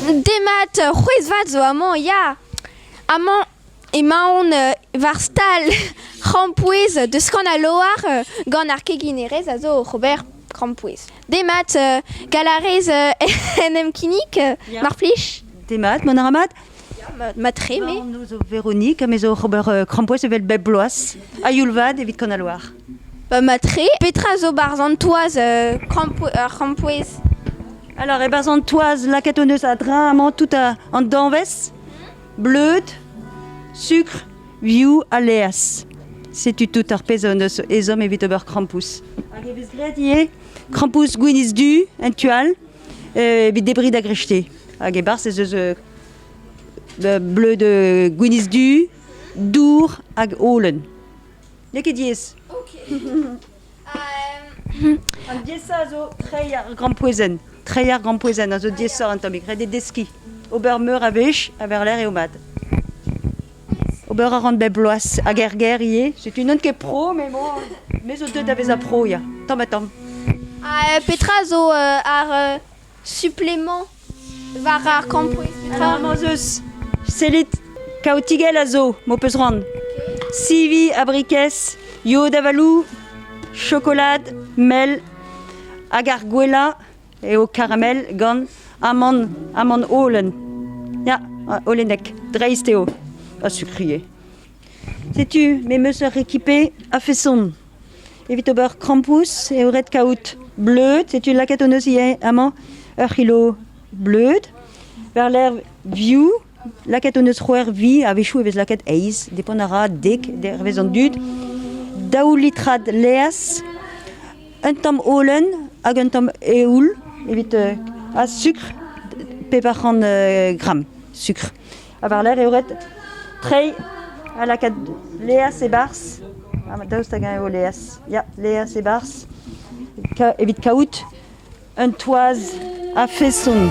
Demat, c'hwezh-vat zo amañ ya! Amañ emaon war stal krampouezh deus Kanaloar gant ar keginerez a zo oc'h ober krampouezh. Demat, gall a rez en em kinnig, mar plij? Demat, ma arabat? Matre, me. No, zo Véronique, me zo oc'h ober krampouezh evel bep bloaz, a-youl vat evit Kanaloar. Ba mat-tre. Petra zo 'barzh an toaz krampouezh? Alors e-barzh an toaz lakaet hon eus a-dreñv amañ tout an danvez, bleud, sukr, vioù ha laezh. Setu tout ar pezh hon eus ezhomm evit ober krampouezh. Hag e vez graet ivez krampouezh gwinizh du en tu all evit debriñ da grechtez. Hag e-barzh ez eus bleud gwinizh du, dour hag holen. N'eo ket diaes. Ok. An diaesa a zo treiñ ar grampouezhenn. Treiñ ar grampouezhenn a zo diaesoc'h un tammig. Ret eo deskiñ. Ober meur a wech a war-lerc'h eo mat. Ober a ran bep bloaz. Hag er gêr ivez. Setu n'on ket pro, mais bon, me zo deuet da vezañ pro, ya. Tamm ha tamm. petra zo ar Supplément war ar kampouez petra? Ah, ma'z eus. Sellit, kaotigell a zo, m'ho peus c'hoant. Sivi, abrikez, yod avalou, chokolad, mel, hag ar gwellañ eo karamel gant amann, amann holen. Ya, holenek, dreist eo, a sukrie. Setu, me 'm eus ur ekipé a-feson. Evit ober krampouezh eo ret kaout bleud. Setu lakaet hon eus ivez amañ ur c'hilo bleud. War-lerc'h vioù, lakaet hon eus c'hwec'h vi. A-wechoù e vez lakaet eizh. Depont a ra dek dervez an dud. Daou litrad laezh, un tamm holen hag un tamm eoul evit ha sukr pevar c'hant gramm sukr. ha war-lerc'h eo ret treiñ ha lakaat Leaz e-barzh. Daoust hag-eñ eo Leaz? Ya, Leaz e-barzh, evit kaout un toaz a-feson.